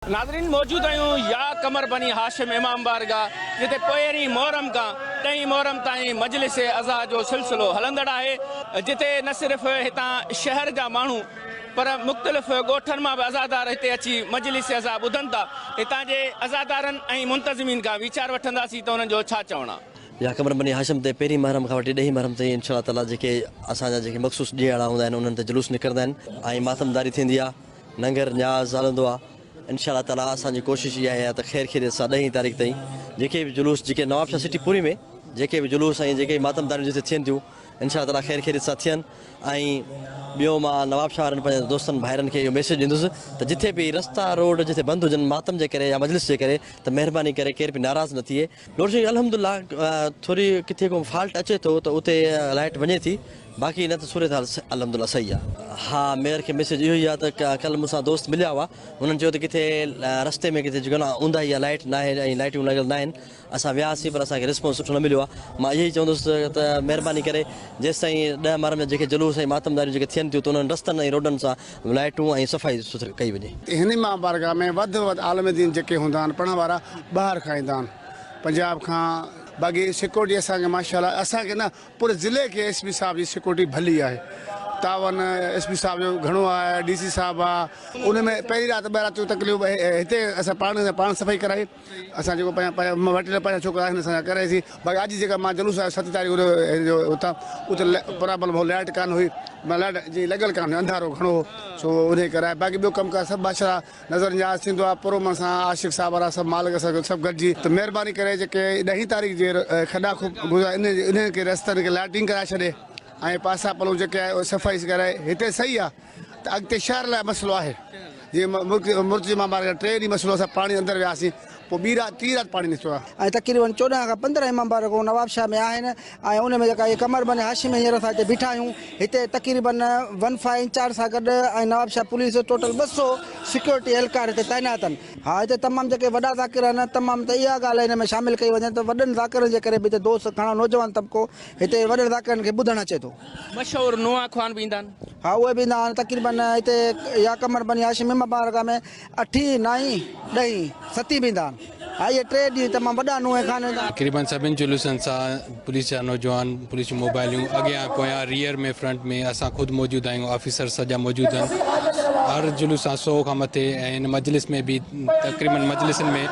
ناظرين موجود آهيون يا قمر بني هاشم امام بارگاهه جتي پهرين محرم کان ڏهين محرم تائين مجلس عزا جو سلسلو هلندڙ آهي جتي نه صرف هتان شهر جا ماڻهو پر مختلف ڳوٺن مان به عزادار هتي اچي مجلس عزا ٻڌن ٿا هتان جي عزادارن ۽ منتظمين کان ويچار وٺنداسين ته انهن جو ڇا چوڻ آهي. يا قمر بني هاشم تي پهرين محرم کان وٺي ڏهين محرم تائين انشاء الله تعالي جيڪي اسان جا جيڪي مخصوص ڏينهن اهڙا هوندا آهن انهن تي جلوس نڪرندا آهن ۽ ماتمداري ٿيندي آهي. ننگر نياز هلندو آ انشاء الله تعالي اسان جي ڪوشش اها آهي ته خير خيريت سان ڏهين تاريخ تائين جيڪي به جلوس جيڪي نوابشاهه سٽي پوري ۾ جيڪي به جلوس ۽ جيڪي ماتم داريون جتي ٿين ٿيون انشاء الله تعالي خير خيريت سان ٿين ۽ ٻيو مان نوابشاهه وارن پنهنجن دوستن ڀائرن کي اهو ميسيج ڏيندس ته جتي به رستا روڊ جتي بند هجن ماتم جي ڪري يا مجلس جي ڪري ته مهرباني ڪري ڪير به ناراض نه ٿئي نور سنگهه الحمد الله ٿوري ڪٿي ڪو فالٽ اچي ٿو ته اتي لائيٽ وڃي ٿي باقي نه ته صورتحال الحمد الله صحيح آ. ها ميئر کي ميسيج اهو ئي آ ته ڪلهه مون سان دوست مليا هئا هنن چيو ته ڪٿي رستي ۾ ڪٿي جيڪو اونداهي آ لائيٽ ناهي ۽ لائيٽون لڳل ناهن اسان وياسين پر اسان کي رسپانس سٺو نه مليو آ مان اهي ئي چوندس ته مهرباني ڪري جيستائين ڏهه محرم جا جيڪي جلوس ۽ ماتمداريون جيڪي ٿين ٿيون ته انهن رستن ۽ روڊن سان لائٽون ۽ صفائي سٿري ڪئي وڃي. هن ماه بارگاهه ۾ وڌ ۾ وڌ عالم دين جيڪي هوندا آهن پڙهڻ وارا ٻاهر کان ايندا آهن پنجاب کان باقي سيڪورٽي اسان کي ماشاءالله اسان کي نه پوري ضلعي کي ايس پي صاحب جي سيڪورٽي ڀلي آهي تعاون ايس پي صاحب جو گهڻو آهي ڊي سي صاحب آهي ان ۾ پهرين رات ٻه راتيون تقريبن هتي اسان پاڻ پاڻ صفائي ڪرائي. اسان جيڪو پنهنجا پنهنجا وٽ نه پنهنجا ڇوڪرا آهن اسان جا ڪري سي باقي اڄ جيڪا مان جلوس آيو ست تاريخ جو جو اتان اتي پرابلم هو لائيٽ ڪانه هئي معنيٰ لائيٽ جي لڳل ڪانه هئي انڌارو گهڻو هو سو انهي ڪري آيا باقي ٻيو ڪم ڪار سڀ ماشاءالله نظر نياز ٿيندو آهي پر امن سان عاشق صاحب وارا سڀ مالڪ اسان کي سڀ گڏجي ته مهرباني ڪري جيڪي ڏهين تاريخ جي کڏا کپ گذا انهن جي انهن کي رستن کي لائيٽنگ ڪرائي ڇڏي ۽ پاسا پلو جيڪي آهي اهي صفائي ڪرائي هتي صحيح آهي ته اڳتي شهر لاء مسئلو آهي جي مرتضي مامار جا ٽي ڏينهن مسئلو اسان پاڻي اندر وياسين پوء ٻي رات ٽي رات پاڻي نٿو آهي تقريبن چوڏهن کان پندرهن امام بار رڳو نواب شاهه ۾ آهن ۽ ان ۾ جيڪا قمر بن هاشم هينئر اسان هتي بيٺا آهيون هتي تقريبن ون فائيو انچارج سان گڏ ۽ نواب شاهه پوليس ٽوٽل ٻه سو سيڪيورٽي اهلڪار هتي تعينات آهن ها هتي تمام جيڪي وڏا ذاڪر آهن تمام ته اها ڳالهه هن ۾ شامل ڪئي وڃي ته وڏن ذاڪرن جي ڪري به هتي دوست گهڻا نوجوان طبقو هتي وڏن ذاڪرن کي ٻڌڻ اچي ٿو مشهور نوحه خوان به ايندا آهن. ها اهي به ايندا آهن تقريبن هتي يا قمر بني هاشم ۽ مبارڪه ۾ اٺين، نائين، ڏهين، ستين به ايندا آهن. ها اهي ٽي ڏينهن تمام وڏا نوحه خوان ايندا آهن. تقريبن سڀني جلوسن سان پوليس جا نوجوان، پوليس جون موبائليون اڳيان، پويان، ريئر ۾ فرنٽ ۾ اسان خود موجود آهيون آفيسر سڄا موجود آهن هر جلوس سان سؤ کان مٿي ۽ هن مجلس ۾ به تقريبن مجلسن ۾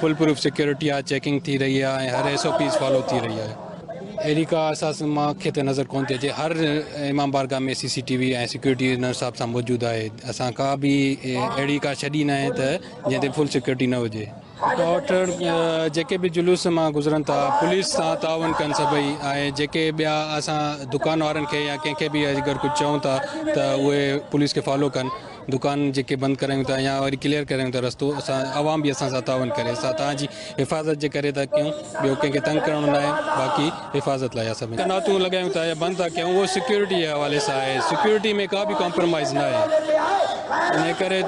فول پروف سيڪيورٽي آهي چيڪنگ ٿي رهي آهي ۽ هر ايس او پيز فالو ٿي رهي آهي. اهڙي ڪا اساس مان کي ته نظر ڪونه ٿي اچي هر امام بارگاهه ۾ سي سي ٽي وي ۽ سيڪيورٽي ان حساب سان موجود آهي اسان ڪا به اهڙي ڪا ڇڏي ناهي ته جنهن تي فل سيڪيورٽي نه هجي ڊاڪٽر جيڪي به جلوس مان گذرن ٿا پوليس سان تعاون ڪن سڀئي ۽ جيڪي ٻيا اسان دڪان وارن کي يا ڪنهن کي به اگر ڪجهه چئون ٿا ته اهي پوليس کي فالو ڪن دڪان جيڪي بند ڪرايون ٿا يا وري ڪليئر ڪرايون ٿا رستو اسان عوام به اسان سان تعاون ڪري اسان توهان جي حفاظت جي ڪري ٿا ڪيون ٻيو ڪنهن کي تنگ ڪرڻو ناهي باقي حفاظت لاء اسان قناتون لڳايون ٿا يا بند ٿا ڪيون اهو سيڪيورٽي جي حوالي سان آهي سيڪيورٽي ۾ ڪا به ڪامپرمائز ناهي انهي ڪري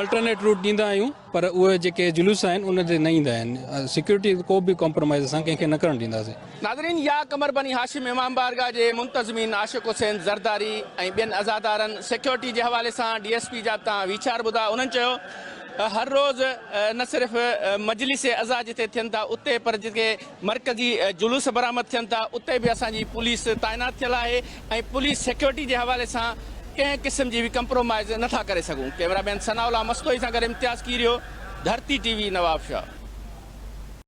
الٽرنيٽ روٽ ڏيندا آهيون پر اهي جيڪي جلوس آهن ان تي نه ايندا آهن سيڪيورٽي ڪو به ڪمپرمائز اسان ڪنهن کي نه ڪرڻ ڏينداسين. ناظرين يا قمر بني هاشم امام بارگاهه جي منتظمين عاشق حسين زرداري ۽ ٻين عزادارن سيڪيورٽي جي حوالي سان ڊي ايس پي جا تان ويچار ٻڌا انهن چيو ته هر روز نه صرف مجلس عزا جتي ٿين ٿا اتي پر جتي مرڪزي جلوس برآمد ٿين ٿا اتي به اسان جي پوليس تعينات ٿيل آهي ۽ پوليس سيڪيورٽي جي حوالي سان ڪنهن قسم جي به ڪمپرومائيز نه ٿا ڪري سگهون، ڪئميرا مين ثناء الله مستوئي سان گڏ امتياز ڪيريو، ڌرتي ٽي وي، نوابشاهه.